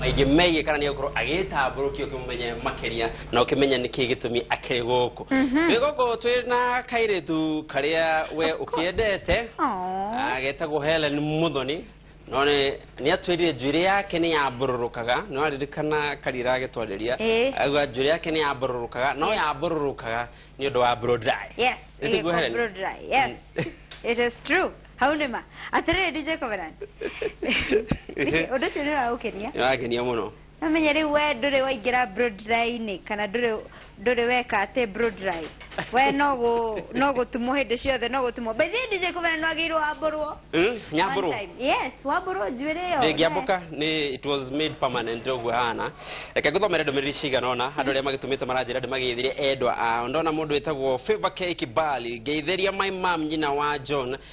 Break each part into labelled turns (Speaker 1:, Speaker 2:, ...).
Speaker 1: maingĩ megiĩ kana nĩ gũkorwo agĩtambũrũkio ũkĩmũmenye makĩria na ũkĩmenya nĩkĩ gĩtũmi akĩrĩ gũkũ twĩ gũkũ twĩ na kairĩtu karĩa we ũkĩendete Aw. Ah, getagwo helen muthoni no nĩ nĩ atwĩrire njuĩrĩ yake nĩ yambororokaga nĩ waririkana karira agĩtwarĩria Ĩĩ. agua njuĩrĩ yake nĩ yambororokaga no yambororokaga nĩ ũndũ wa blow dry yes Ĩtiguo ĩgĩkwo Helen?
Speaker 2: blow dry yes it is true hau nĩ ma atĩrĩrĩ dj covenant ũndũ ũcio nĩ ũragũkenia nĩ wagenia mũno
Speaker 1: No menye rĩu we
Speaker 2: ndũrĩ waingĩra Broadline kana ndũrĩ ndũrĩ weka atĩ Broadline. We no gũ no gũtumwo hĩndĩ ciothe no gũtumwo. By the way DJ Kũmena nĩ wagĩrĩirwo wambũrwo. Mm, One nyambũrwo time.
Speaker 1: Yes, wambũrwo
Speaker 2: njuĩrĩ ĩyo. ndĩngĩambũka nĩ it
Speaker 1: was made permanent ũguo hana reke ngũthomere ndũmĩrĩri cigana ona andũ arĩa magĩtũmĩte maranjĩra ndĩmagĩthire endwa ao ndona mũndũ wĩtagwo favor k kibali ngeithĩria my mam nyina wa john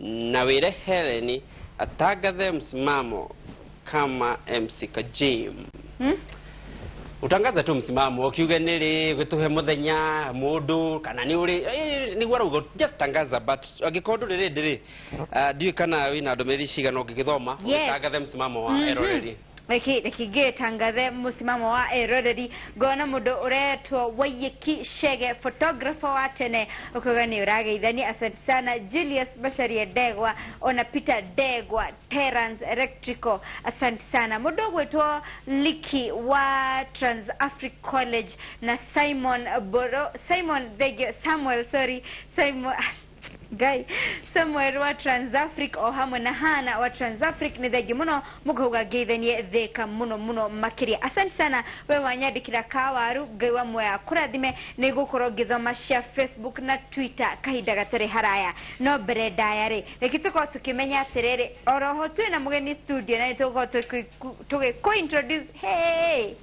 Speaker 1: na wĩre Hellen atangathe msimamo kama MC Kajim. Hmm? Utangaze tu msimamo ukiuge nili gituhe muthenya mundu kana ni uri eh, niguo arauga just tangaza but angikorwo nduri rindi ri ah, ndiũĩ kana wina ndumiriri cigana ũngĩgĩthoma Yes. ũgĩtangathe msimamo wa eroreri Reki
Speaker 2: reki ngĩtangathe mũsimamo wa eroreri ngona mũndũ ũretwo Waiyeki Chege photographer wa tene ũkauga nĩ ũrageithania asante sana Julius Macharia Ndegwa ona Peter Ndegwa Terrence Electrical asante sana mũndũ ũgwĩtwo Liki wa Trans Africa College na Simon Boro Simon thengio Samuel sorry Simon Guy Samuel wa Transafric o hamwe na Hana wa Transafric nĩ thengi mũno mũkauga ngeithanie thĩka mũno mũno makĩria asante sana we wanyandĩkĩra kawaru ngai wa muoya kũrathime nĩ gũkorwo ngĩthoma cia Facebook na Twitter kahinda gatarĩ haraya no mbere ndaya rĩ reke tũkorwo tũkĩmenya atĩrĩrĩ oroho twĩ na mũgeni studio na nĩ tũgũkorwo tũgĩkũ introduce hey!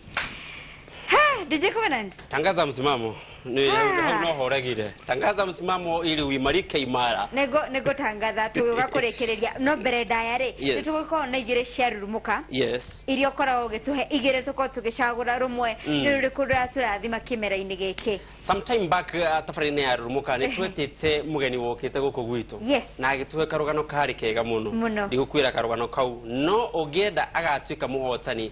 Speaker 2: He, DJ Covenant. Tangaza msimamo.
Speaker 1: Ni Ah. hau no horegire. Tangaza msimamo ili uimarike imara. Nego nego tangatha
Speaker 2: tuga kurekereria no mbere ndaya ri. Yes. Nitugukorwo na igire cia rurumuka. Yes. iria ũkoragwo ũgĩtũhe igĩrĩ tũkorwo tũgĩcagũra rũmwe Mm. nĩ rũrĩkũ rũratũrathima kĩmera-inĩ gĩkĩ sometime back uh,
Speaker 1: tabarĩinĩ ya rurumuka nĩ twetĩte mũgeni wokĩte gũkũ gwitũ Yes. na agĩtũhe karũgano karĩ kega mũno Mũno. ndigũkwĩra karũgano kau no ũngĩenda agatuĩka mũhotani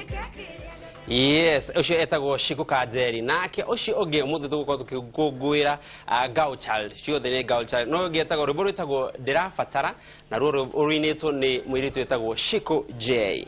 Speaker 1: yes ucio etagwo cikuka njeri nake ucio ungi umuthi tugukorwo tukikungwira girl child ciothe ni girl child no ungi etagwo rwimbo rwitagwo ndirabatara na ruo ruinitwo ni mwiritu etagwo ciku j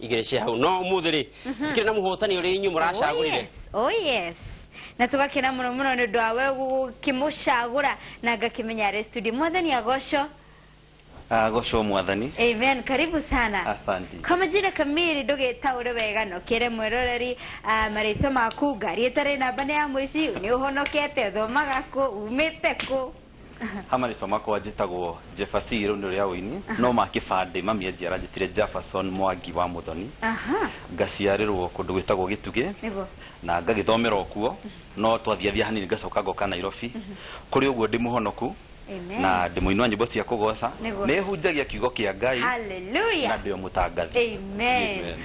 Speaker 1: igereje hau no umuthi ri tukire na muhotani uri inyu muracagurire oh yes
Speaker 2: na tugakena muno muno nä å ndå wa we gũkĩmũcagå ra na ngakĩmenya arä studio mwathani agocwo
Speaker 3: agocwo mwathani amen karibu
Speaker 2: sana asante kwa majina
Speaker 3: kamili
Speaker 2: ndũgĩtaũre wega nokere mweroreri ah, marĩtwa maku ngari ĩtarĩ namba nĩ ya mũici nĩ ũhonokete ũthomaga kũ umĩte kũ hama rĩtwa
Speaker 3: makwa njĩtagwo jebasi rĩu nĩ rĩa ũini no ma kĩbandĩ mami anjiara njĩtire jefferson mwangi wa mũthoni aha ngaciarĩrwo kũndũ gwĩtagwo gĩtugĩ nĩguo na ngagĩthomera okuo no twathiathia hanini ngacoka ngoka nairobi kũrĩ ũguo ndĩ mũhonoku amen na ndĩ mũini wa nyĩmbo cia kũgoca Nĩguo. nĩhunjagia kiugo kĩa ngai na haleluya ndĩ o
Speaker 2: mũtangathi
Speaker 3: amen Amen.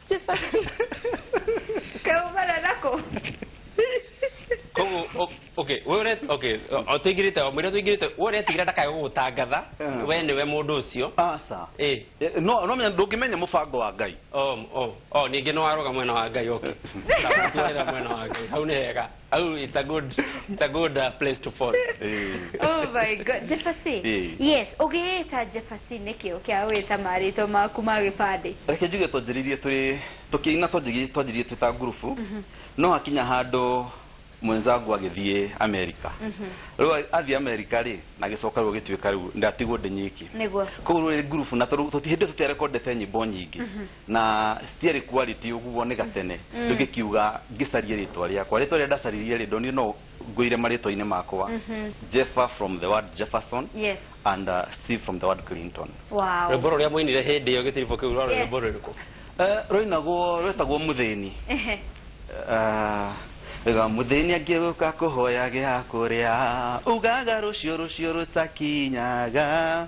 Speaker 2: Kaumana nako. koguo o-
Speaker 1: okay we ure okay o- o tuingirite o mwira tuingirite we uretigire ndakae gugutangatha Ah. we niwe mundu ucio aca eh
Speaker 3: Eh, no no menya ndũngĩmenya mũbango wa ngai o o o ningi
Speaker 1: no waroga mwena wa ngai okay Ndagũtuĩra mwena wa ngai hau ni hega Oh, it's a good, it's a good uh, place to fall. oh my
Speaker 2: god, Jefasi. Eh. Yes, ũgĩĩta Jefasi nĩkĩ ũkĩa wĩta marĩtwa maku ma gĩbandĩ? Reke njuge twanjĩrĩirie
Speaker 3: tũrĩ tũkĩina twanjĩrĩirie twĩ ta ngurubu mhm. no hakinya handũ mwenzangu agĩthiĩ Amerika mhm. rĩu athiĩ Amerika rĩ na gĩcoka rĩu gĩtuĩka rĩu ndatigwo ndĩ nyiki koguo rĩ
Speaker 2: ngurubu na
Speaker 3: hĩndĩ tũtiarekondete nyĩmbo nyingĩ mhm. Na citiarĩ quality ũguo nĩ gatene ndũngĩkiuga ngĩcarie rĩtwa rĩakwa. Rĩtwa rĩrĩa ndacaririe rĩ ndonire no ngũire marĩtwa-inĩ makwa, Jeffer from the word Jefferson Yes. and
Speaker 2: uh, Steve
Speaker 3: from the word Clinton. Wow. Rwĩmbo rũrĩa
Speaker 2: mwainire hĩndĩ
Speaker 1: ĩyo gĩtiribũ kĩu rwarĩ Yes. rwĩmbo rũrĩkũ? Eh, Rwainagwo
Speaker 3: rwetagwo mũthĩni. Ehe. Ah, ga mũthĩni angĩũka kũhoya gĩa kũrĩa ugaga rũciũ rũciũ rũtakinyaga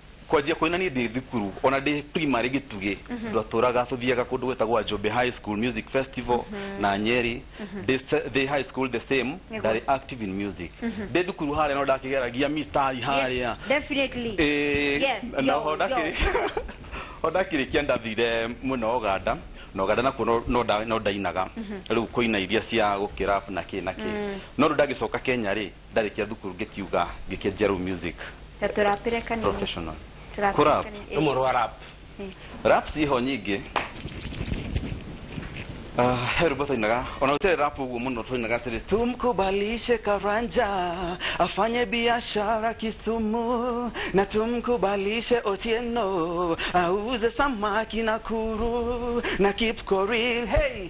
Speaker 3: Kwanjia kũina niĩ ndĩ thukuru ona ndĩ primary gĩtugĩ twatũraga tũthiaga kũndũ gwetagwo Ajombe High School Music Festival na Nyeri ndĩ se- ndĩ high school the same Nĩguo. ndarĩ active in music ndĩ thukuru harĩa no ndakĩgeragia mitai harĩa Definitely. Ĩĩ,
Speaker 2: Yes,
Speaker 3: na yo, oho yo. ndakĩrĩ o ndakĩrĩkia ndathire mwena wa Uganda na Uganda nakuo no- no nda- no ndainaga rĩu kũina iria cia gũkĩrap na kĩ na kĩ no rĩu ndagĩcoka Kenya rĩ Ndarĩkia thukuru ngĩkiuga ngĩkia Jeru Music Ta tũrapĩre
Speaker 2: kanini. Professional. Tũrapĩre
Speaker 3: Kũrap. kanini. Ĩĩ. Rũmwe rwa rap.
Speaker 1: Ĩĩ. Rap
Speaker 3: ciĩho nyingĩ. Ah, he rwĩmbo twainaga ona rũtiarĩ rap ũguo mũno twainaga atĩrĩ tumkubalishe karanja afanye biashara kisumu na tumkubalishe otieno auze samaki na kuru na kipkoril hey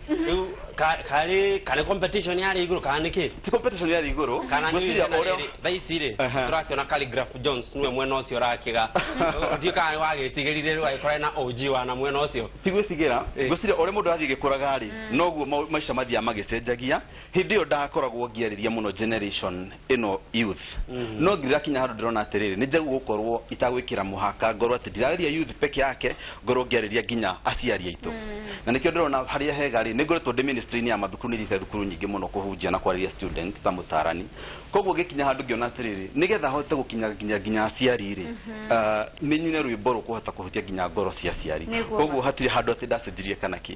Speaker 1: Rĩu ka- karĩ karĩ competition ya rĩ igũrũ kana nĩ kĩ ti competition ya iguru
Speaker 3: kana nĩ gwĩciria wĩra ũrĩa
Speaker 1: rĩrĩ, thaa ici rĩ Aha. tũrakĩona Calligraph Jones nĩwe mwena ũcio ũrakiga ndiũ kana wagĩtigĩrire rĩu agĩkorwo na ũnji wa na mwena ũcio tigwĩtigĩra Eh. ngwĩciria
Speaker 3: ũrĩa mũndũ arathiĩ gĩkũraga rĩ noguo mau- maica mathiaga magĩcenjagia hĩndĩ ĩyo ndakoragwo ngĩarĩria mũno generation ĩno youth no ndirakinya handũ ndĩrona atĩrĩrĩ nĩ njagĩrĩirwo gũkorwo itagwĩkĩra mũhaka ngorwo atĩ ndirarĩria youth peke yake ngorwo ngĩarĩria nginya aciari aitũ na nĩkĩo ndĩrona harĩa hega rĩ nĩ ngoretwo ndĩ ministry-inĩ ya mathukuru nĩ thiĩte thukuru nyingĩ mũno kũhunjia na kwarĩria students ta mũtarani koguo ngĩkinya handũ ngĩona atĩrĩrĩ nĩgetha hote gũkinya nginya nginya aciari rĩ ah, nĩ nyine rwĩmbo rũkũhota kũhutia nginya ngoro cia aciari Nĩguo ma. koguo hatirĩ handũ atĩ ndacenjirie kana kĩ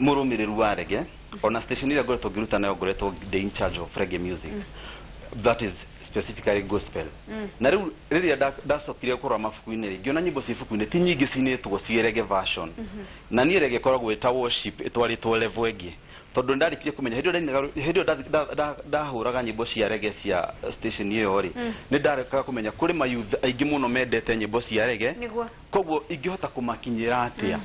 Speaker 3: mũrũmĩrĩru wa rege ona station ĩrĩa ngoretwo ngĩruta nayo ngoretwo ndĩ in charge of reggae music that is specifically gospel na rĩu rĩrĩa nda- ndacokire kũrora mabuku-inĩ rĩ ngĩona nyĩmbo ciĩ buku-inĩ ti nyingĩ cinĩtwo ciĩ rege version na niĩ rege ĩkoragwo ĩta worship ĩtwarĩtwo level ĩngĩ tondũ ndarĩkirie kũmenya hĩndĩ ĩyo ndainaga rwĩ- hĩndĩ ĩyo nda- nda- nda- ndahũraga nyĩmbo cia rege cia station ĩyo rĩ nĩ ndarekaga kũmenya kũrĩ mayouth aingĩ mũno mendete nyĩmbo cia rege nĩguo Koguo ingĩhota kũmakinyĩra atĩa?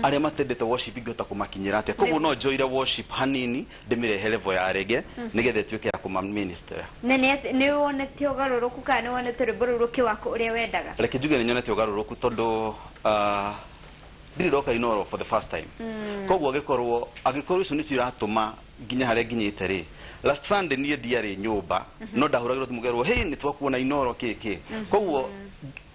Speaker 3: Arĩa matendete worship ingĩhota kũmakinyĩra atĩa? Koguo no njoire worship hanini ndĩmĩrehe level ya reggae nĩgetha ĩtuĩke ya kũma minister. Na nĩ atĩ- nĩ
Speaker 2: wonete ũgarũrũku kana nĩ wonete rwĩmbo rũu rũkĩwaka ũrĩa wendaga? Reke njuge nĩ nyonete ũgarũrũku
Speaker 3: tondũ ah, ndirĩ ndoka Inooro for the first time. Koguo agĩkorwo angĩkorwo icio nĩcio iratũma nginye harĩa nginyĩte rĩ, last Sunday niĩ ndiarĩ nyũmba no ndahũragĩrwo thimũ ngerwo hey nĩ twakuona Inooro kĩĩ kĩĩ. Koguo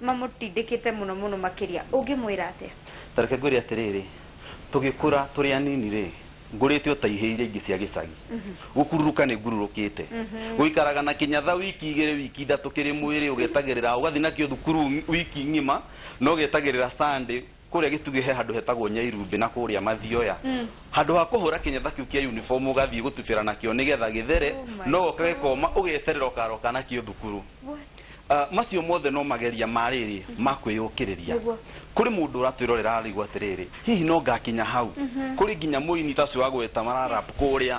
Speaker 2: Mamũtindĩkĩte mũno mũno makĩria. Ũngĩmwĩra atĩa? Ta reke ngwĩre atĩrĩrĩ,
Speaker 3: Tũgĩkũra tũrĩ anini-rĩ, ngũrĩte o ta ihĩĩ iria ingĩ cia gĩcagi. Gũkururũka nĩ ngururũkĩte. Gũikaraga na kĩnyatha wiki igĩrĩ, wiki ithatũ kĩrĩ mwĩrĩ ũgetagĩrĩra, ũgathiĩ nakĩo thukuru wiki ng'ima, na ũgetagĩrĩra Sunday. kũrĩa gĩtugĩ he handũ hetagwo nyairumbĩ na kũrĩa mathioya handũ ha kũhũra kĩnyatha kĩu kĩa uniform ũgathiĩ gũtubĩra nakĩo nĩgetha gĩthere oh no goka gĩkoma ũgeterera ũkaroka nakĩo thukuru ah, macio mothe no mageria ma rĩrĩ mhm. ma kwĩyũkĩrĩria kũrĩ mũndũ ũratwĩrorera arĩgwo atĩrĩrĩ hihi no ngakinya hau mhm. kũrĩ nginya mũini tacio wa gwĩta mararap kũrĩa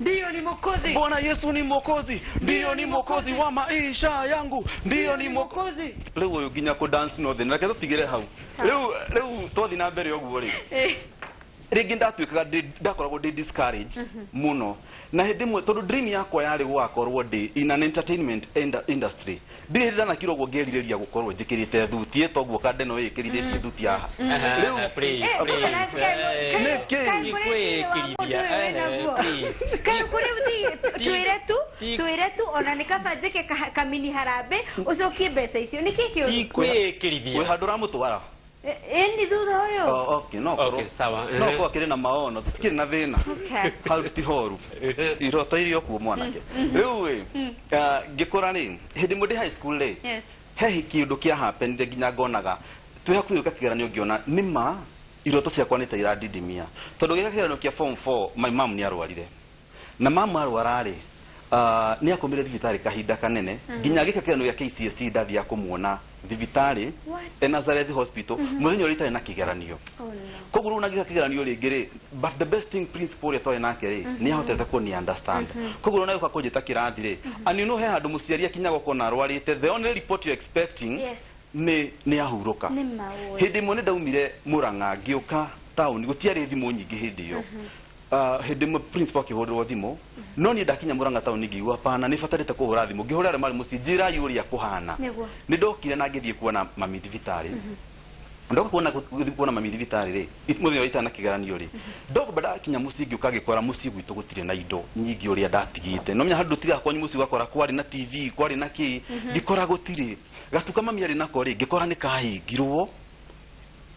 Speaker 3: ndiyo ni mwokozi bwana yesu ni mwokozi ndiyo ni mwokozi wa maisha yangu ndiyo ni mwokozi rä u å yå nginya kå dance no thä na reke tå tigä re hau rä u rä u twathi na mbere å guo rä Eh, rĩngĩ ndatuĩkaga ndĩ- ndakoragwo ndĩ discouraged mũno na hĩndĩ ĩmwe tondũ dream yakwa yarĩ gũgakorwo ndĩ in an entertainment ind- industry Ndirĩ ndanakira ũguo ngĩrirĩria gũkorwo njĩkĩrĩte thuti ĩto guoka ndeno ĩĩ ĩkĩrithĩtie thuti haha. Rĩu Please, Eh, kumbe please. nasikia yu- kayu- Nĩkĩ? kayu Ti kũrĩ thĩinĩ wa mũndũ kwĩĩkirithia, ũyũ wĩ naguo. eh, please.
Speaker 2: Kayu kũrĩ thi- tu- Ti- twĩre tu ti- twĩre tu ona nĩ kaba njĩke ka- kamini harambĩ ũcokie mbeca icio nĩkĩ kĩũru Ti kwĩĩkirithia.
Speaker 3: Wĩ handũ ũramũtwara. Ĩ- ĩni
Speaker 2: thutha ũyũ O- okay, no Okay, korwo-
Speaker 3: sawa, no ehe. korwo akĩrĩ
Speaker 1: na maono
Speaker 3: tikĩrĩ na thĩna Okay. hau ti horu iroto iria kuo mwanake rĩu ĩ ah, ngĩkũra rĩ hĩndĩ ĩmwe ndĩ high school rĩ Yes. he kĩndũ kĩa happenire nginya ngonaga twĩ hakuhĩ gwĩka kĩgeranio ngĩona nĩ ma iroto ciakwa nĩ ta irandindimia tondũ gĩka kĩgeranio kĩa form 4 my mom nĩ arwarire Na mamu arwara-rĩ, nĩakomire thibitarĩ kahinda kanene nginya agĩka kĩgeranio gĩa KCSE ndathiaga kũmuona thibitarĩ e Nazareth Hospital mũthenya ũrĩa itarĩ na kĩgeranio. Koguo rĩu ona ngĩka kĩgeranio rĩngĩ-rĩ, but the best thing principal ũrĩa twarĩ nake-rĩ, nĩahotete kũni understand. Koguo ona agĩũka kũnjĩta kĩrathi-rĩ, and you know he handũ mũciari akinyaga ũkona arwarĩte, the only report you're expecting nĩ nĩahurũka. Hĩndĩ ĩmwe nĩndaumire Mũrang'a ngĩũka taũni, gũtiarĩ thimũ nyingĩ hĩndĩ ĩyo. Ah, hĩndĩ ĩmwe principal akĩhũrĩrwo thimũ no niĩ ndakinya mũranga taũni ngiigua pana nĩ batarĩte kũhũra thimũ ngĩhũra arĩa marĩ mũciĩ njĩrai ũrĩa kũhana Nĩguo. nĩ ndokire na ngĩthiĩ kuona mami thibitarĩ ndoka kuona gũthiĩ kuona mami thibitarĩ rĩ it- mũthenya wa itana kĩgeranio rĩ ndoka ndakinya mũciĩ ngĩũka ngĩkora mũciĩ gwitũ gũtirĩ na indo nyingĩ ũrĩa ndatigĩte no menya handũ tiga kwanyu mũciĩ ũgakora kwarĩ na tv kwarĩ na kĩ ngĩkora gũtirĩ gatuka mami arĩ nako rĩ ngĩkora nĩ kahingirwo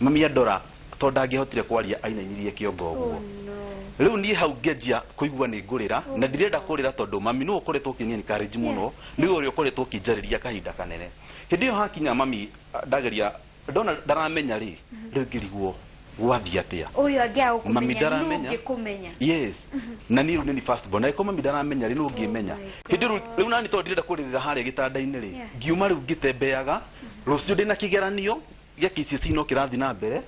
Speaker 3: Mami Adora tondũ ndangĩahotire kwaria ainainirie kĩongo ũguo. Rĩu niĩ hau ngĩanjia kũigua nĩ ngũrĩra na ndirenda kũrĩra tondũ mami nĩwe ũkoretwo ũkĩni encourage mũno, nĩwe ũrĩa ũkoretwo ũkĩnjarĩria kahinda kanene. Hĩndĩ ĩyo hakinya mami ndageria, ndona ndaramenya rĩ, rĩu ngĩrigwo gwathiĩ atĩa. Ũyũ angĩaga
Speaker 2: gũkũmenya nũ ũngĩkũmenya?
Speaker 3: Yes. Na niĩ rĩu nĩniĩ first born. Angĩkorwo mami ndaramenya rĩ, nũ ũngĩmenya? Hĩndĩ ĩyo rĩu, rĩu naniĩ tondũ ndirenda kũrĩrĩra harĩa gĩtanda-inĩ rĩ, ngiuma rĩu ngĩtembeaga, rũciũ ndĩna kĩgeranio, Gĩa kicicino kĩrathi na mbere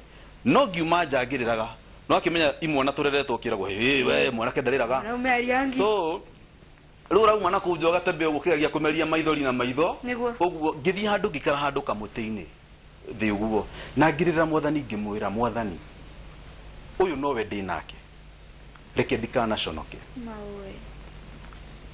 Speaker 3: no ngiuma nja ngĩrĩraga no akĩmenya imwana tũreretwo ũkĩragwo hĩĩ we mwanake ndarĩraga Mwanaume ariangi. so rĩu ũrauma na kũu nja ũgatembe ũguo ũkĩgeragia kũmeria maithori na maitho Nĩguo. ũguo ngĩthiĩ handũ ngĩikara handũ kamũtĩ-inĩ thĩ ũguo na ngĩrĩrĩra mwathani ngĩmwĩra mwathani ũyũ nowe ndĩ nake reke ndikanaconoke Maũĩ.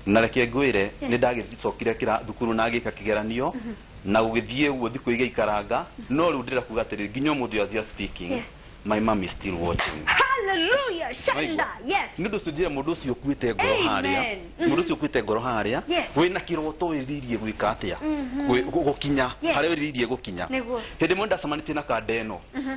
Speaker 3: na reke ngwĩre nĩ ndagĩcokire kĩra thukuru na ngĩka kĩgeranio Mhm. na gũgĩthiĩ ũguo thikũ igĩikaranga no rĩu ndĩrenda kuga atĩrĩrĩ nginya ũmũthĩ as you are speaking Yes. my mom is still watching Hallelujah.
Speaker 2: Shanda. Waigua? Yes. nĩ ũndũ ũcio njĩra mũndũ ũcio
Speaker 3: ũkuĩte ngoro Amen. harĩa Mhm. mũndũ ũcio ũkuĩte ngoro harĩa Yes. wĩna kĩroto wĩrirĩirie gwĩka atĩa Mhm. Gwĩ- gũ- gũkinya Yes. harĩa wĩrirĩirie gũkinya Nĩguo. hĩndĩ ĩmwe nĩ ndacemanĩtie na kanda ĩno Mhm.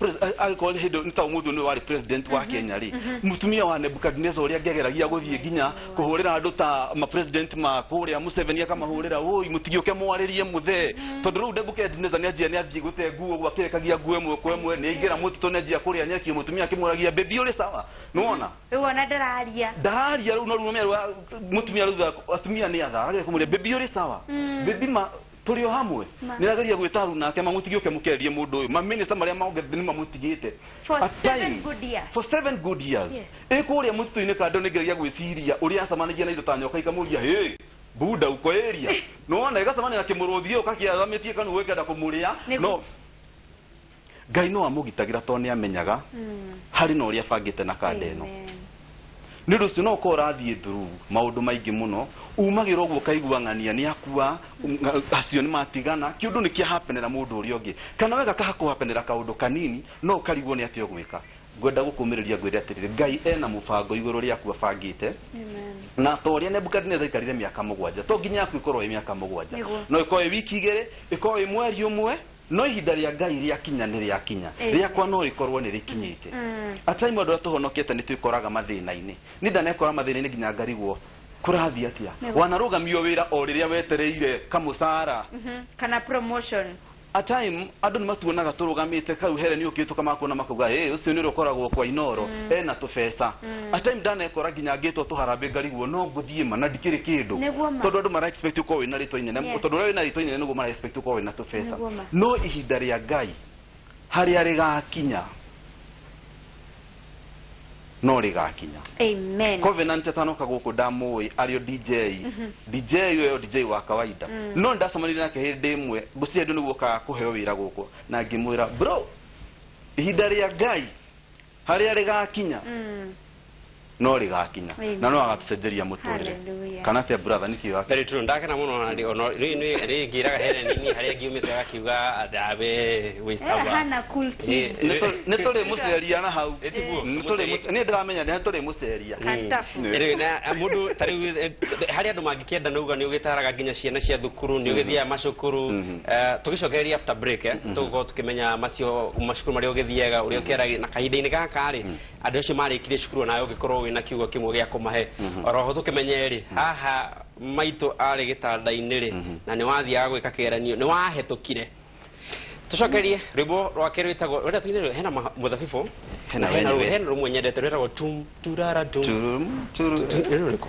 Speaker 3: Pres- a- angĩkorwo nĩ hĩndĩ nĩ ta ũmũthĩ nĩ warĩ president wa kenya rĩ mũtumia wa nebukadineza ũrĩa angĩageragia gũthiĩ nginya kũhũrĩra andũ ta mapresident ma kũrĩa mũceveni akamahũrĩra ũi mũtigĩũke mwarĩrie mũthee tondũ rĩu nebukadineza nĩ anjia nĩ athiĩ gũte nguo ũguo akĩrekagia nguo ĩmwe kwa ĩmwe nĩ aingĩra mũtitũ nĩ anjia kũrĩa nyeki mũtumia akĩmũragia bebi ũrĩ sawa nĩ wona rĩu ona ndararia
Speaker 2: ndararia rĩu no rĩu
Speaker 3: mũtumia rĩu atumia nĩ atha agakĩmũria bebi ũrĩ sawa bebi ma Tũrĩ o hamwe. Ma. Nĩrageria gwĩta Haruna na Akema mũtige ũke mũkererie mũndũ ũyũ. Mamĩnĩsta marĩa mongerete nĩmamũtigĩte. For A seven time.
Speaker 2: good years. For seven good years. Yes.
Speaker 3: Ĩ kũrĩa mũtitũ-inĩ kando nĩngeragia gwĩciria ũrĩa acamanagia na indo ta nyoka ikamũria hĩ, bunda uko area? Nĩwona, ĩgacemania na kĩmũrũthi gĩũka kĩarũgamĩtie kanua gĩkenda kũmũrĩa. Nĩgu- No, Ngai no amũgitagĩra tondũ nĩ amenyaga harĩ na ũrĩa abangĩte na kanda ĩno. Nĩ ũndũ ũcio no ũkorwo ũrathiĩ through maũndũ maingĩ mũno, umagĩra ũguo ũkaigua ng'ania nĩ akua, acio nĩ matigana, kĩũndũ nĩ kĩa hapenera mũndũ ũrĩa ũngĩ. Kana we gakahakũhapenera kaũndũ kanini no ũkarigwo nĩ atĩa ũgwĩka. Ngwenda gũkũmĩrĩria ngwĩre atĩrĩrĩ, Ngai ena mũbango igũrũ rĩaku abangĩte, na ta ũrĩa Nebukadinezer aikarire mĩaka mũgwanja, to nginya yaku ĩkorwo ĩ mĩaka mũgwanja. Nĩguo. No ĩkorwo ĩ wiki igĩrĩ, ĩkorwo ĩ mweri ũmwe, No ihinda rĩa Ngai rĩakinya nĩ rĩakinya, rĩakwa no rĩkorwo nĩ rĩkinyĩte. At time andũ arĩa tũhonokete nĩ twĩkoraga mathĩna-inĩ. Niĩ ndanekora mathĩna-inĩ nginya ngarigwo kũrathiĩ atĩa. Wanarũgamio wĩra o rĩrĩa wetereire kamũcara. Kana
Speaker 2: promotion. At time
Speaker 3: andũ nĩ matuonaga tũrũgamĩte, kau Helen okĩhĩtũka makuona makauga, Hĩ, ũcio nĩ ũrĩa ũkoragwo kwa Inooro, ena tũbeca. a time ndanekora nginya ngĩtwo tũharambĩ ngariguo no ngũthiĩ ma na ndikĩrĩ kĩndũ Nĩguo ma. tondũ andũ mara expect ũkorwo wĩna rĩtwa inene Yes. tondũ ũrĩa wĩna rĩtwa inene nĩguo mara expect ũkorwo wĩna tũbeca Nĩguo ma. no ihinda rĩa ngai harĩa rĩgakinya no rĩgakinya amen covenant
Speaker 2: atanoka gũkũ
Speaker 3: ndamũĩ arĩo dj dj ũyo dj wa kawaida Mm. no ndacemanire nake hĩndĩ ĩmwe ngũciria ndio nĩguo ũkaga kũheo wĩra gũkũ na ngĩmwĩra bro ihinda rĩa ngai Harĩa rĩgakinya no rĩgakinya Amen. na no agatucenjeria mũtũrĩre Hallelujah. kana cia brother nĩ cio very true ndakena muno na ndi
Speaker 1: ono ri ni ri ngiraga Helen ni haria ngiumite agakiuga athabe Eh, wisaba hana cool kid.
Speaker 2: nĩ tũrĩ
Speaker 3: mũceria na hau Etiguo, Nĩ tũrĩ mũce- niĩ ndĩramenya nĩ tũrĩ mũceria Kantafu. Rĩu na
Speaker 1: mũndũ ta rĩu eh, harĩa andũ mangĩkĩenda nauga nĩ ũgĩtaraga nginya ciana cia thukuru nĩ ũgĩthiaga macukuru Eh, tũgĩcokereria after break eh, tũgũkorwo tũkĩmenya macio macukuru marĩa ũgĩthiaga ũrĩa ũkĩaragia na kahinda-inĩ gaka rĩ andũ acio marĩkirie cukuru nawe ũngĩkorwo wĩna kiugo kĩmwe gĩa kũmahe oroho tũkĩmenye rĩ haha maitũ arĩ gĩtanda-inĩ rĩ na nĩ wathiaga gwĩka kĩgeranio nĩ wahetũkire tũcokerie rwĩmbo rwake rwĩtagwo rwenda tuine rwĩ- hena ma- mũthabibũ Hena na hena rwĩmbo. rwĩ- hena rũmwe nyendete rwĩtagwo tum turara tum Turum, turu- Rwĩmbo rũrĩkũ?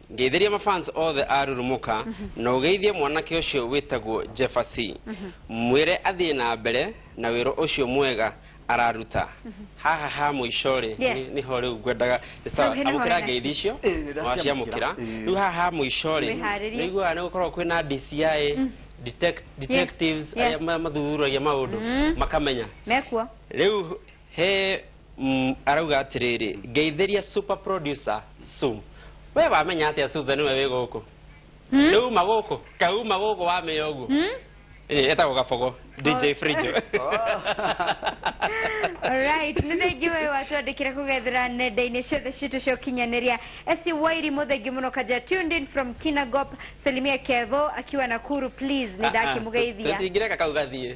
Speaker 1: Ngeithĩria mafans othe a Rurumũka na ũgeithie mwanake ũcio wĩtagwo Jeffersy. Mwĩre athiĩ na mbere na wĩra ũcio mwega araruta. Haha ha mũico-rĩ, Yes. nĩ- nĩho rĩu ngwendaga nĩ sawa, Rĩu hena amũkĩra hore na- ngeithi icio Ĩĩ, nĩ ndaciamũkĩra. waciamũkĩra. Ĩĩ. Rĩu haha ha mũico-rĩ, Wĩharĩrie. nĩiguaga nĩ gũkoragwo kwĩna DCI, detect- detectives, Yes. arĩa ma- mathuthuragia maũndũ, makamenya. Mekuo.
Speaker 2: Rĩu
Speaker 1: he mm, arauga atiriri ngeithiria super producer su we wamenya atia suza niwe wi guku Hmm? riu uma guku kauma guku wamenya uguo Hmm? Eh, etagwo gabogo dj frijo
Speaker 2: Alright, nĩ thengi we watwandĩkĩra kũgethera nenda-inĩ ciothe citũ cia ũkinyanĩria esi wairi mũthengi mũno kaja tuned in from kinagop salimia kevo akiwa nakuru please nĩ ndakĩmũgeithia tũtingireka kau gathiĩ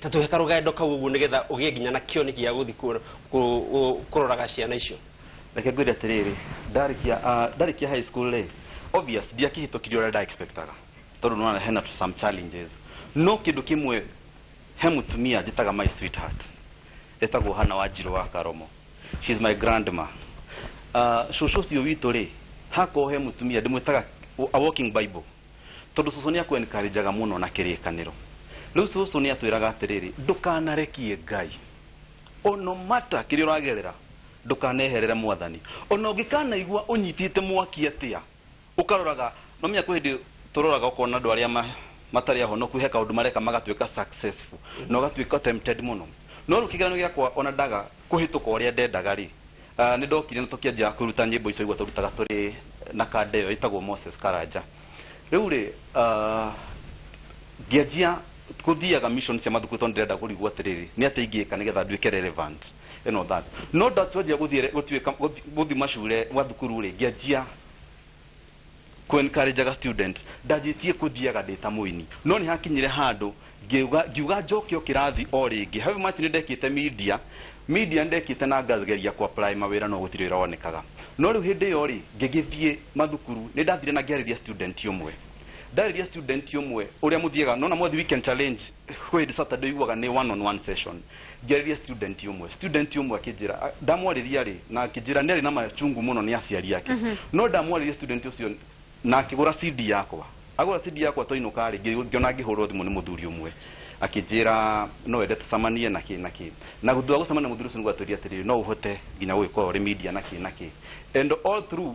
Speaker 1: Ta tũheka rũgendo kau ũguo nĩgetha ũgĩe nginya na kĩoni gĩa gũthiĩ kũ- kũ- kũ- kũroraga ciana icio. Reke ngwĩre atĩrĩrĩ,
Speaker 3: ndarĩkia ah, ndarĩkia high school rĩ, obvious ndiakĩhĩtũkirie ũrĩa nda expectaga tondũ nĩwona hena tũ some challenges. No kĩndũ kĩmwe, he mũtumia njĩtaga my sweetheart, etagwo Hannah Wanjirũ wa Karomo. She's my grandma. Ah, cũcũ ũcio witũ rĩ, hakoragwo he mũtumia ndĩmwĩtaga a walking bible. Tondũ cũcũ nĩ akũ encourageaga mũno na kĩrĩkanĩro. Rĩu cũcũ nĩ atwĩraga atĩrĩrĩ, ndũkanarekie Ngai. O no matter kĩrĩa ũragerera, ndũkaneherere Mwathani. O na ũngĩkanaigua ũnyitĩte mwaki atĩa, ũkaroraga, nĩ wamenya kwĩ hĩndĩ tũroraga ũkona andũ arĩa matarĩ ahonoku he kaũndũ mareka magatuĩka successful, na ũgatuĩka tempted mũno. No rĩu kĩgeranio gĩakwa o na ndaga Kũhĩtũka ũrĩa ndendaga-rĩ, nĩ ndokire na tũkĩanjia kwĩruta nyĩmbo icio ũguo twarutaga tũrĩ na kanda ĩyo ĩtagwo Moses Karanja. Rĩu-rĩ, ngĩanjia gũthiaga mission cia mathukuru tondũ ndĩrenda kũrigwo atĩrĩrĩ, nĩ atĩa ingĩka nĩgetha nduĩke relevant and all that. No ndatwanjia gũthiĩ gũthiĩ macule, mathukuru-rĩ, ngĩanjia... kwenkarenjaga students ndanjĩtie kũthiaga ndĩ ta mũini no nĩ hakinyire handũ ngiuga ngiuga njoke o kĩrathi o rĩngĩ however much nĩ ndekĩte media media nĩ ndekĩte na ngageria kũ apply mawĩra no gũtirĩ wĩra wonekaga no rĩu hĩndĩ ĩyo rĩ ngĩgĩthiĩ mathukuru nĩ ndathire na ngĩarĩria student ũmwe ndarĩria student ũmwe ũrĩa mũthiaga nona mwathi weekend challenge kwĩ hĩndĩ Saturday ũiguaga nĩ one on one session Njaririe student umwe student umwe akĩnjĩra a- ndamwarĩria rĩ na akĩnjĩra nĩ arĩ na machungu mũno nĩ aciari ake no ndamwarĩria student ũcio na akĩgũra CD yakwa agũra CD yakwa twainũka rĩ ngĩ- ngĩona ngĩhũrwo thimũ nĩ mũthuri ũmwe akĩnjĩra no wende tũcamanie na kĩ na kĩ na thutha wa gũcemania na mũthuri ũcio nĩ gwatwĩrire atĩrĩrĩ no ũhote nginya gũgĩkorwo ũrĩ media na kĩ na kĩ and all through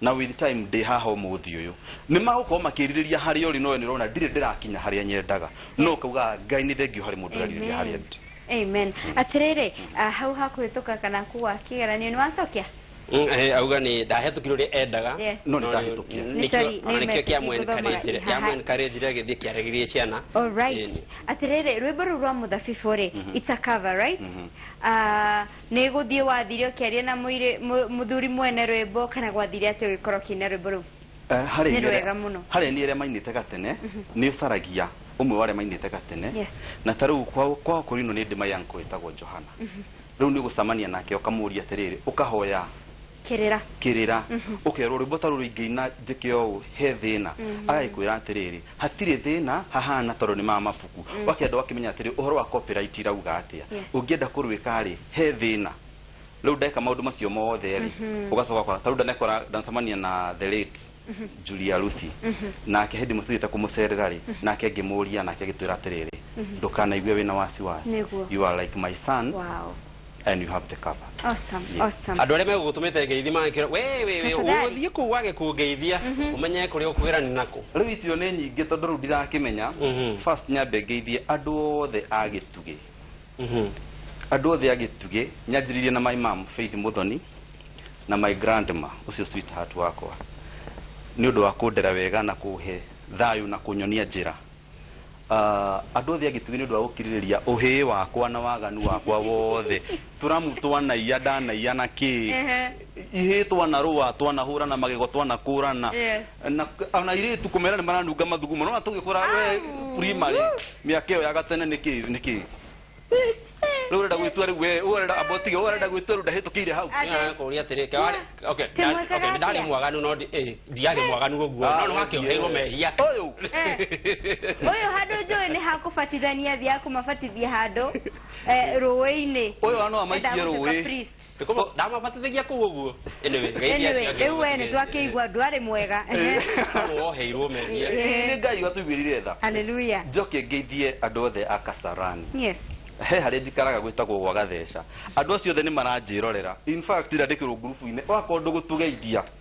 Speaker 3: Na with time ndĩ haha ũmũthĩ ũyũ. Nĩ magũkorwo makĩrirĩria harĩa ũrĩ no we nĩ ũrona ndirĩ ndĩrakinya harĩa nyendaga. No Yes. ũkaugaga Ngai nĩ thengiũ harĩ mũndũ ũrerirĩria harĩa Amen. ndĩ. Amen.
Speaker 2: Atĩrĩrĩ, ah, hau ha kũhĩtũka kana kũgwa kĩgeranio nĩ wacokia? Mm, eh, auga
Speaker 1: nĩ ndahĩtũkire ũrĩa endaga Yes. No nĩ ndahĩtũkia.
Speaker 3: Nĩ nĩkĩo sorry, ona nĩ nĩkĩo message kĩa
Speaker 1: mwe ngũthomaga encourage ihaha. kĩa mwe encourage agĩthiĩ kĩaragĩrie ciana All right. Ĩni.
Speaker 2: Atĩrĩrĩ, rwĩmbo rũu rwa mũthabibũ rĩ, it's a cover, right? Ah, Nĩ gũthiĩ wathire ũkĩaria na mũirĩ, mũ, mũthuri mwene rwĩmbo, kana gwathire atĩa ũgĩkora ũkĩina rwĩmbo rũu? Eh, harĩ Nĩ inyuĩ arĩa, rwega mũno.
Speaker 3: harĩ inyuĩ arĩa mainĩte gatene, nĩ ũcaragia ũmwe wa arĩa mainĩte gatene, Yes. na ta rĩu kwa, kwa Okorino nĩ ndĩ my uncle wĩtagwo Johana. Rĩu nĩ ũgũcamania nake ũkamũũria atĩrĩrĩ, ũkahoya, Kĩrĩra. Kĩrĩra. Ũkerwo rwĩmbo ta rũrũ ingĩina njĩke ũũ, he thĩna? Agagĩkwĩra atĩrĩrĩ, hatirĩ thĩna, hahana tondũ nĩ ma mabuku. Ũgakĩenda ũgakĩmenya atĩrĩ, ũhoro wa copyright irauga atĩa? Ũngĩenda kũrwĩka-rĩ, he thĩna? Rĩu ndeka maũndũ macio mothe-rĩ, ũgacoka ũgakora, ta rĩu ndanecemania na the late. Mhm. Julia Lucy. Mhm. Nake hindi mucithite kumucerera ri, mhm. nake ngimuria nake agitwira atiriri, ndukanaigue wina wasiwasi. You are like my son. Wow. And you have the cover. Awesome. Yes. Awesome. Andu
Speaker 2: aria megugutumite
Speaker 1: ngeithi mangikira we we we uguthie ku wage kungeithia umenye kuri ukugira ni naku. Riu icio ni nyingi
Speaker 3: tondu riu ndirakimenya. First nyambe ngeithie andu othe agitugi. Mhm. Andũ othe a Gĩtugĩ, nyanjĩrĩirie na my mom Faith Mũthoni na my grandma ũcio sweetheart wakwa nĩ ũndũ wa kũndera wega na kũhe thayũ na kũnyonia njĩra. Ah, Andũ othe a Gĩtugĩ nĩ ũndũ wa gũkirĩrĩria ũhĩĩ wakwa na waganu wakwa wothe. Tũramu twanaiya, ndanaiya na kĩĩ. Ehe. Ihĩĩ twanarũa, twanahũrana magego, twanakũrana. Yes. Na ona airĩtu kũmera nĩ maranunga mathugumo. Nĩ wona tũgĩkũra we Au. primary. Mĩaka ĩyo ya gatene nĩ kĩĩ nĩ kĩĩ? Rĩu ũrenda gwĩtua rĩu we ũrenda abotige ũrenda gwĩtua rĩu ndahĩtũkĩire hau. Nginya kũria atĩrĩ ke wari
Speaker 1: okay Ti mwĩkaga okay nĩ ndarĩ atĩa? mwaganu no ndi- eh, ndiarĩ mwaganu ũguo Ah, no nĩ wakĩoheirwo ndiĩ. mehia Ũyũ.
Speaker 2: ũyũ handũ njũĩ nĩ hakũbatithania thiaga kũmabatithia handũ eh, rũĩ-inĩ Ũyũ wa no amaikie
Speaker 3: Endaga gũtuĩka rũĩ. priest. Nĩkũma ndamabatithagia
Speaker 1: kũu ũguo. Anyway, Ngai nĩ anyway aciaga rĩu
Speaker 2: we ũbatithio. nĩ twakĩigua ndwarĩ mwega Nĩ woheirwo
Speaker 1: meria. Ĩĩ, nĩ ngai
Speaker 3: watũiguĩrire tha haleluya njoke
Speaker 2: ngeithie
Speaker 3: andũ othe a kasarani yes he
Speaker 2: harĩa njikaraga
Speaker 3: gwĩtagwo gwa gatheca andũ acio othe nĩ maranjĩrorera in fact ndandĩkĩrwo ngurubu-inĩ ũgakorwo ndũgũtũgeithia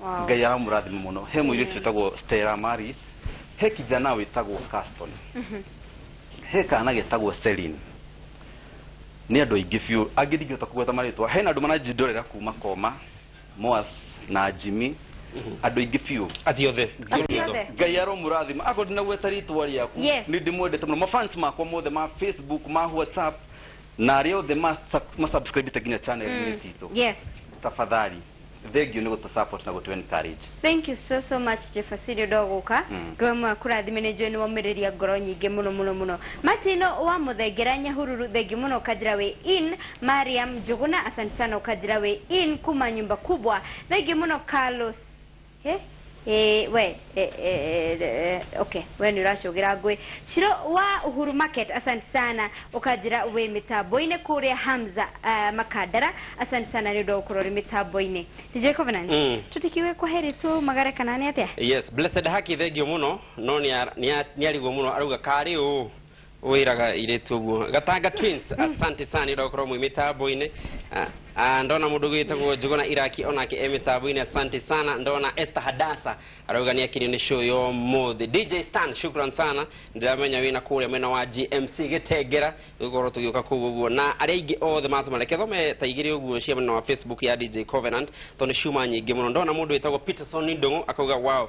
Speaker 3: Wow. ngai aramũrathima mũno he mũirĩtu wĩtagwo stella maris he kijana wĩtagwo caston he kana getagwo selin nĩ andũ aingĩ biũ angĩ ndingĩhota kũgweta marĩtwa hena andũ maranjindorera kuma koma moas na jimmy andũ aingĩ biũ Ati othe. Ati
Speaker 1: othe. ngai
Speaker 3: aromũrathima akorwo ndinagweta rĩtwa rĩaku Yes. nĩ ndĩmwendete mũno mafans makwa mothe ma facebook ma whatsapp na arĩa othe ma- ma subscribĩte nginya channel-inĩ citũ Yes. tafadhali Thengiũ nĩ gũtũ support na gũtũ encourage. Thank you so so
Speaker 2: much Jefasiri ũndũ wa gũka mm. Ngai mwe akũrathime nĩ njũĩ nĩ waumĩrĩria ngoro nyingĩ mũno mũno mũno Martin wa mũthengera Nyahururu thengiũ mũno ũkanjĩra wĩ in Mariam Njũgũna asante sana ũkanjĩra wĩ in kuma nyumba kubwa thengiũ mũno Carlos He ĩĩ we e, e, e, okay we nĩ ũracũgĩra ngũĩ ciro wa uhuru market asante sana ũkanjĩra wĩ mĩtambo-inĩ kũrĩa hamza uh, makandara asante sana nĩ ũndũ wa gũkorwo ũrĩ mĩtambo-inĩ dj covenant Mm. tũtikiuge kwa heri tũmagare kana nĩ atĩa yes blessed haki
Speaker 1: thengio muno no nĩariguo muno arauga karĩ ũ wiraga iritu guo gatanga twins asante sana ira ukorwo mwi mitambo-ini Ah, ah, ndona mundu gwitagwo njuguna iraki onake e mitambo-ini asante sana ndona esther hadasa arauga ni akirio ni show yo muthi dj stan shukran sana ndiramenya wina kuria mwena wa gmc gitengera gukorwo tugiuka kuu uguo na aria aingi othe matuma reke thome ta igiri uguo cia mwena wa facebook ya dj covenant tondu ciuma nyingi muno ndona mundu witagwo peterson ndungu akauga wow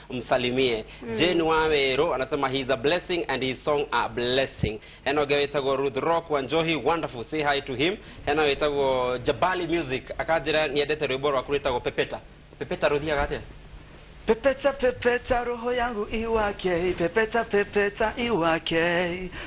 Speaker 1: msalimie mm. Jane Waweru anasema he is a blessing and his song a blessing hena ũngĩ wĩtagwo Ruth Rock wa Njohi wonderful say hi to him hena wĩtagwo Jabali Music akanjĩra nĩendete rwĩmbo rwaku rwĩtagwo Pepeta Pepeta rũthiaga atĩa Pepeta
Speaker 4: pepeta roho yangu iwake, pepeta pepeta iwake,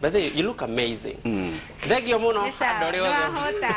Speaker 1: By the way, you look amazing. Mm. Thengio mũno Nĩ sawa, andũ arĩa othe. nĩwahũta.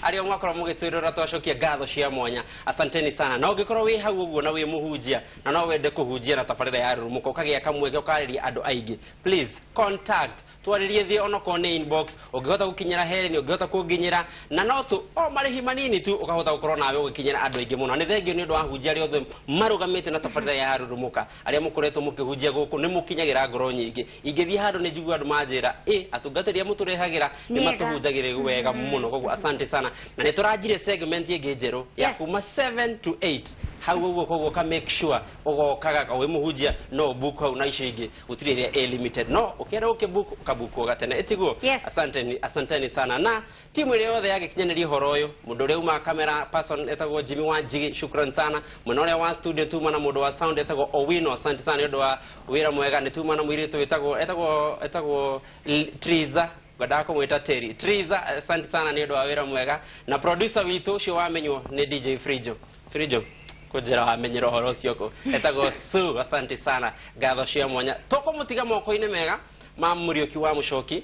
Speaker 1: Arĩa mwakorwo mũgĩtwĩrora twacokia ngatho cia mwanya. Asanteni sana. Na ũngĩkorwo wĩ hau ũguo na wĩ mũhunjia na no wende kũhunjia na tabarĩra ya rurumuka ũkagĩa kamweke ũkarĩria andũ aingĩ. Please contact twarĩrie thĩ onokorwo nĩ inbox ũngĩhota gũkinyĩra Helen ũngĩhota kũnginyĩra na no tu o marĩhi manini tu ũkahota gũkorwo nawe ũgĩkinyĩra andũ aingĩ mũno. Nĩ thengio nĩ ũndũ wa ahunjia arĩa othe marũgamĩte na tabarĩra ya rurumuka. Arĩa mũkoretwo mũkĩhunjia gũkũ nĩ mũkinyagĩra ngoro nyingĩ. Ingĩthiĩ handũ nĩ njiguaga andũ manjĩra, ĩ, atungatĩri arĩa mũtũrehagĩra nĩ matũhunjagĩra wega mũno. Kwoguo asante sana. Na nĩ tũranjirie segment ĩngĩ njerũ ya kuma 7 to 8 hau ũguo. Kwoguo ũka make sure ũgokaga o wĩ mũhunjia no ũ book hau na icio ingĩ gũtirĩ ĩrĩa ĩ limited. No ũkĩenda gũkĩ book ũka book o gatene. Ĩtiguo? Asanteni, asanteni sana na... Timu ĩrĩa yothe yagĩkinyanĩria ũhoro ũyũ, mũndũ ũrĩa umaga camera person etagwo Jimmy wa Njigi, shukran sana. Mwena ũrĩa wa studio tuma na mũndũ wa sound etagwo Owino, asante sana nĩ ũndũ wa wĩra mwega. Nĩ tuma na mũirĩtu wĩtagwo etagwo etagwo L- Triza ngwendaga kũmwĩta Terry. Triza, asante sana nĩ ũndũ wa wĩra mwega. Na producer witũ ũcio wamenywo nĩ DJ Frijo. Frijo, kũnjĩra wamenyera ũhoro ũcio kũ etagwo Sue, asante sana. Ngatho cia mwanya. Tũkũmũtiga moko-inĩ mega ma Mũriũki wa Mũcoki.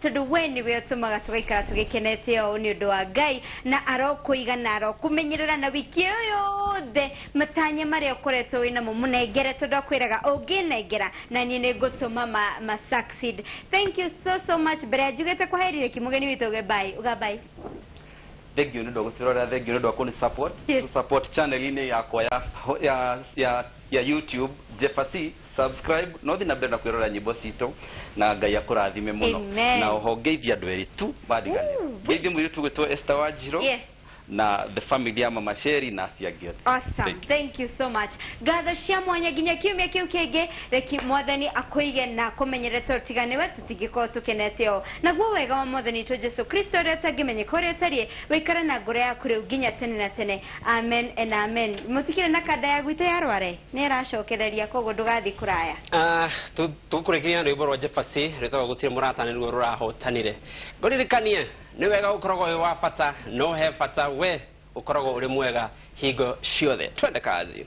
Speaker 2: Tondũ wee nĩwe ũtũmaga tũgaikara tũgĩkenete ũũ nĩ ũndũ wa Ngai, na arokũiga na arokũmenyerera na wiki ĩyo yothe matanya marĩa ũkoretwo wĩ namo mũnengere tondũ akwĩraga ũngĩnengera na niĩ nĩ ngũtũma ma, ma succeed. Thank you so so much. Mbere ya njugĩte kwa heri reki mũgeni witũ auge bye. Uga bye.
Speaker 3: Thengiũ nĩ ũndũ wa gũtũrorera, thengiũ nĩ ũndũ wa kũnĩ support. Yes. Tũ support channel-inĩ yakwa ya, ya, ya, ya YouTube, Jepha C. Subscribe no thiĩ na mbere na kwĩrorera nyĩmbo citũ na Ngai akũrathime mũno. Amen. Na oho ngeithie andũ erĩ tu mandiganĩra. Woo, wee. Ngeithie mũirĩtu ũgwĩtwo Esther Wanjirũ Yes. na the family ya Mama Sheri na acio angĩ othe. Awesome. Thank you. Thank
Speaker 2: you so much. Ngatho cia mwanya nginya kiumia kĩu kĩngĩ reki mwathani akũige na akũmenyerete ũtiga nĩwe tũtingĩkorwo tũkenete ũũ. Naguo wega wa mwathani witũ Jesu Kristo ũrĩa ũtangĩmenyeka ũrĩa ũtariĩ ũikare na ngoro yaku rĩu nginya tene na tene. Amen and amen. Mũtikĩrĩ na kanda ya gwitũ ya Rware? Nĩaracokereria kwoguo ndũgathiĩ kũraya. Ah, tũ,
Speaker 1: tũkũrĩkĩrĩria na rwĩmbo rwa Jephasy rwĩtagwo Gũtirĩ Mũrata Nĩruo Rũrahotanire. Ngũririkanie, nĩ wega ũkoragwo wĩ wa bata, no he bata we ũkoragwo ũrĩ mwega hingo ciothe. Twende kazi.